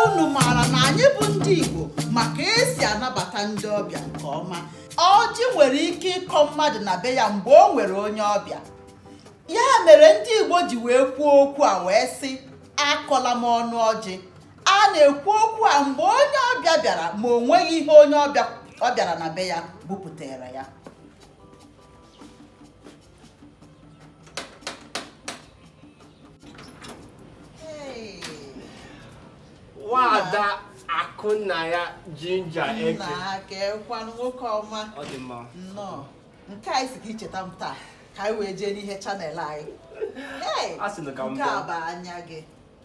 unu maara na anyị bụ ndị Igbo ma ka esi anabata ndị ọbịa nke ọma ọjị nwere ike ịkọ mmadụ na be ya mgbe o nwere onye ọbịa ya mere ndị Igbo ji wee kwuo okwu a wee sị akọla m ọnụ ọjị a na-ekwu okwu a mgbe onye ọbịa bịara ma o nweghị ihe onye ọ bịara na be ya bupụtara ya nwaada akụnna ya jinja eke nna kekwanụ nwoke ọma ọ dị mma nnọọ nke a ị sị ka i cheta m taa ka anyị wee jee n'ihe channel anyị Hey, A sị na ka m nke a bịa. bụ anya gị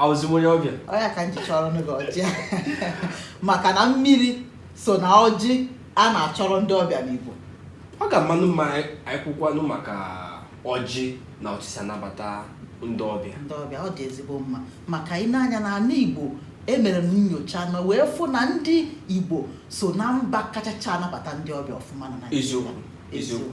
awụzi m onye ọbịa ọ ya ka m ji chọrọnụ gị ọjị maka na mmiri so na ọjị a na-achọrọ ndị ọbịa n'Igbo ọ ga-amanụ mma anyị kwukwanụ maka ọjị na otu esi anabata ndị ọbịa ndị ọbịa ọ dị ezigbo mma maka i nee anya na ana Igbo emere m nyocha na wee fụ na ndị Igbo so na mba kachacha anabata ndị ọbịa ọfụma na Naịjirịa eziokwu eziokwu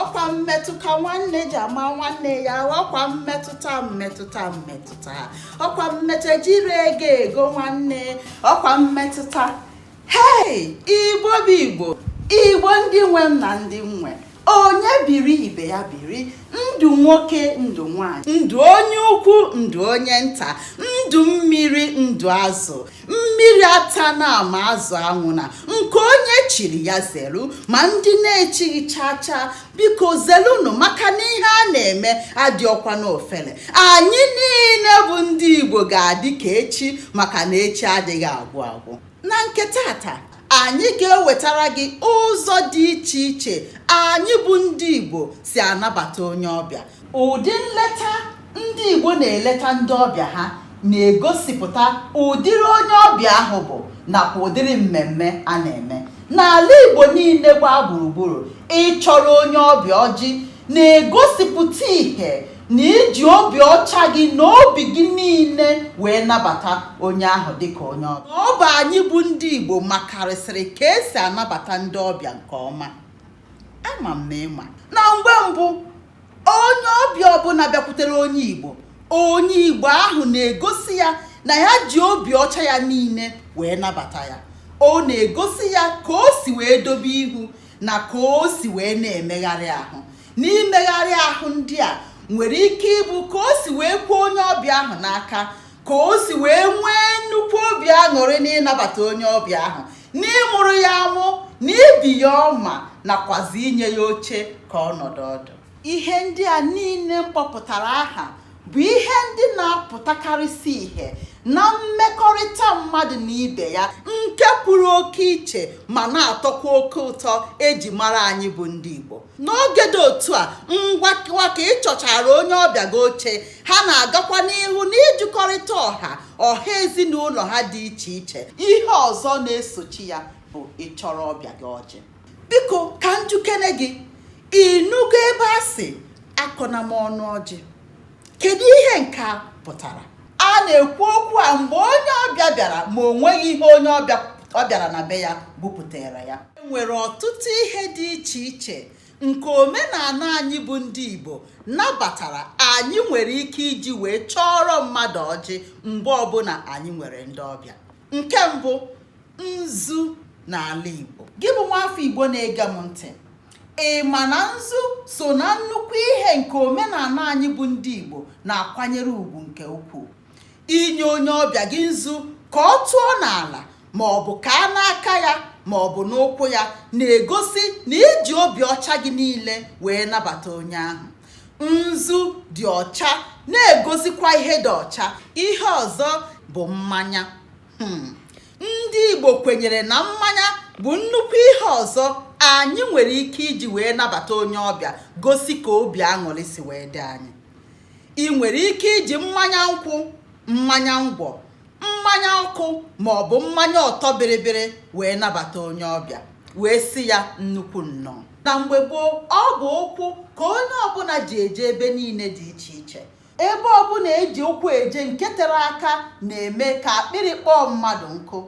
ọkwa mmetụ ka nwanne ji ama nwanne ya ọkwa mmetụta mmetụta mmetụta ọkwa mmetụta jiri ego ego nwanne ọkwa mmetụta hei igbo bụ igbo igbo ndị nwe m na ndị m nwe onye biri ibe ya biri ndụ nwoke ndụ nwanyị ndụ onye ukwu ndụ onye nta ndụ mmiri ndụ azụ mmiri atana ma azụ anwụna nke onye chiri ya zelu ma ndị na-echighị chaa chaa biko zelunu maka na ihe a na-eme adịọkwa n'ofele anyị niile bụ ndị igbo ga-adị ka echi maka na echi adịghị agwụ agwụ na nke taata anyị ga-ewetara gị ụzọ dị iche iche anyị bụ ndị igbo si anabata onye ọbịa Ụdị nleta ndị Igbo na-eleta ndị ọbịa ha na-egosipụta ụdịrị onye ọbịa ahụ bụ nakwa ụdịrị mmemme a na-eme. N'ala Igbo niile gbaa gburugburu, ịchọrọ onye ọbịa ọjị na-egosipụta ihe na i ji obi ọcha gị na obi gị niile wee nabata onye ahụ dịka onye ọbịa. Ọ bụ anyị bụ ndị Igbo makarịsịrị ka esi anabata ndị ọbịa nke ọma. ama m na ị ma na mgbe mbụ onye ọbịa ọbụla bịakwutere onye igbo onye igbo ahụ na-egosi ya na ya ji obi ọcha ya niile wee nabata ya ọ na-egosi ya ka o si wee dobe ihu na ka o si wee na-emegharị ahụ n'imegharị ahụ ndị a nwere ike ịbụ ka o si wee kwee onye ọbịa ahụ n'aka ka o si wee nwee nnukwu obi aṅụrị n'ịnabata onye ọbịa ahụ n'ịmụrụ ya amụ n'ibi ya ọma nakwazi inye ya oche ka ọ nọdụ ọdụ ihe ndị a niile m kpọpụtara aha bụ ihe ndị na-apụtakarịsị ihe na mmekọrịta mmadụ na ibe ya nke pụrụ oke iche ma na-atọkwa oke ụtọ eji mara anyị bụ ndị Igbo n'oge dị otu a ngwa ka ị chọchara onye ọbịa gị oche ha na-agakwa n'ihu n'ịjụkọrịta ọha ọha ezinụlọ ha dị iche iche ihe ọzọ na-esochi ya bụ ịchọrọ ọbịa gị ọjị biko ka m jụkene gị ị nụgo ebe a sị akọna m ọnụ ọjị kedu ihe nke a pụtara a na-ekwu okwu a mgbe onye ọbịa bịara ma o nweghị ihe onye ọ bịara na be ya bupụtara ya e nwere ọtụtụ ihe dị iche iche nke omenala anyị bụ ndị Igbo nabatara anyị nwere ike iji wee chọọrọ mmadụ ọjị mgbe ọbụla anyị nwere ndị ọbịa Nke mbụ, nzu n'ala Igbo. Gị bụ nwaafọ Igbo na-ege m ntị, ị ma na nzu so na nnukwu ihe nke omenala anyị bụ ndị Igbo na-akwanyere ugwu nke ukwuu. Inye onye ọbịa gị nzu ka ọ tụọ n'ala ma ọ bụ kaa n'aka ya ma ọ bụ n'ụkwụ ya na-egosi na i ji obi ọcha gị niile wee nabata onye ahụ. nzu dị ọcha na-egosikwa ihe dị ọcha ihe ọzọ bụ mmanya hmm. ndị Igbo kwenyere na mmanya bụ nnukwu ihe ọzọ anyị nwere ike iji wee nabata onye ọbịa gosi ka obi aṅụrị si wee dị anyị ị nwere ike iji mmanya nkwụ mmanya ngwọ mmanya ọkụ ma ọ bụ mmanya ọtọ bịrịbịrị wee nabata onye ọbịa wee sị ya nnukwu nnọọ na mgbe gboo ọ bụ ụkwụ ka onye ọbụla ji eje ebe niile dị iche iche ebe ọbụla eji ụkwụ eje nke tere aka na-eme ka akpịrị kpọọ mmadụ nkụ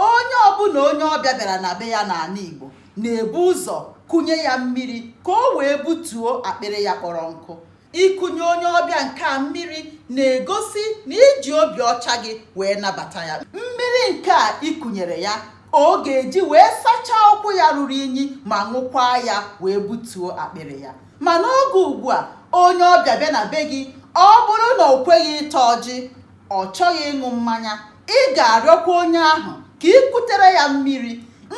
onye ọbụla onye ọbịa bịara na be ya n'ala Igbo na-ebu ụzọ kunye ya mmiri ka o wee butuo akpịrị ya kpọrọ nkụ Ikunye onye ọbịa nke a mmiri na-egosi na i ji obi ọcha gị wee nabata ya. Mmiri nke a i kunyere ya ọ ga-eji wee sachaa ụkwụ ya ruru unyi ma ṅụkwaa ya wee butuo akpịrị ya. Ma n'oge ugbu a, onye ọbịa bịa na be gị, ọ bụrụ na o kweghị ịta ọjị, ọ chọghị ịṅụ mmanya, ị ga-arịọkwa onye ahụ ka i kutere ya mmiri.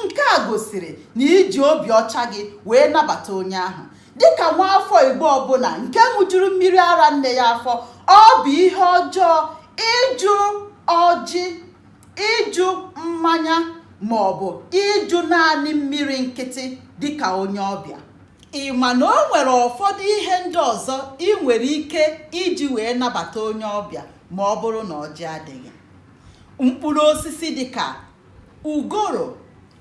Nke a gosiri na i ji obi ọcha gị wee nabata onye ahụ. Dịka nwaafọ Igbo ọbụla nke ṅụjuru mmiri ara nne ya afọ, ọ bụ ihe ọjọọ ịjụ ọjị, ịjụ mmanya maọbụ ịjụ naanị mmiri nkịtị dịka onye ọbịa. Ị ma na o nwere ụfọdụ ihe ndị ọzọ i nwere ike iji wee nabata onye ọbịa ma ọ bụrụ na ọjị adịghị. Mkpụrụ osisi dịka ugoro,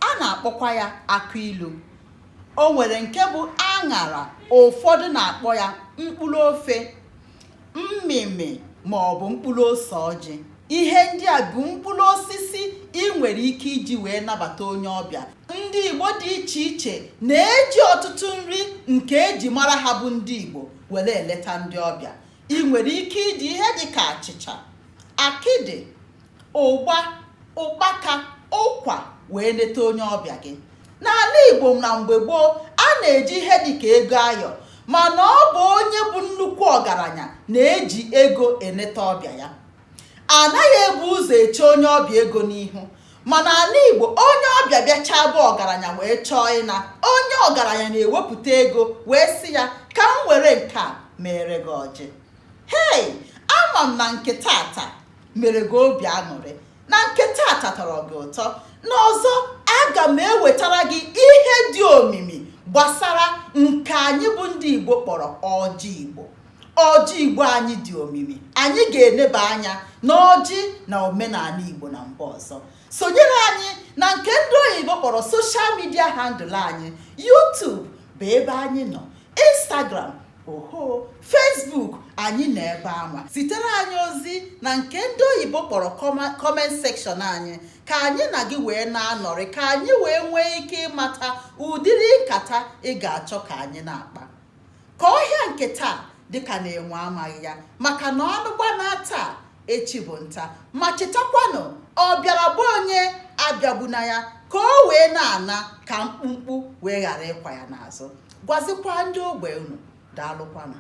a na-akpọkwa ya akụ ilu. o nwere nke bụ aṅara ụfọdụ na-akpọ ya mkpụrụ ofe mmịmị ma ọ bụ mkpụrụ ose ọjị ihe ndị a bụ mkpụrụ osisi i nwere ike iji wee nabata onye ọbịa ndị igbo dị iche iche na-eji ọtụtụ nri nke eji mara ha bụ ndị igbo were eleta ndị ọbịa i nwere ike iji ihe dị ka achịcha akịdị ụgba ụkpaka ụkwa wee neta onye ọbịa gị n'ana Igbo na mgbe gboo a na-eji ihe dịka ego ayọ mana ọ bụ onye bụ nnukwu ọgaranya na-eji ego eneta ọbịa ya a naghị ebu ụzọ eche onye ọbịa ego n'ihu mana ana Igbo onye ọbịa bịachaa be ọgaranya wee chọọ ịna onye ọgaranya na-ewepụta ego wee sị ya ka m were nke a mere gị ọjị hei ama m na nke tata mere gị obi aṅụrị na nke tata tọrọ gị ụtọ na ọzọ aga m ewetara gị ihe dị omimi gbasara nke anyị bụ ndị Igbo kpọrọ ọjị Igbo ọjị Igbo anyị dị omimi anyị ga-eneba anya n'ọjị na omenanị Igbo na mgbe ọzọ sonyere anyị na nke ndị oyibo kpọrọ social media handle anyị YouTube bụ ebe anyị nọ Instagram oho Facebook anyị nọ ebe anwa zitere anyị ozi na nke ndị oyibo kpọrọ comment section anyị ka anyị na gị wee na-anọrị ka anyị wee nwee ike ịmata ụdịrị nkata ị ga-achọ ka anyị na-akpa ka ọhịa nke taa dịka na enwe amaghị ya maka na anụ gbanaa taa echi bụ nta ma chetakwanụ ọ bịara be onye abịagbuna ya ka o wee na-ana ka mkpumkpu wee ghara ịkwa ya n'azụ gwazikwa ndị ogbe unu daalụkwanụ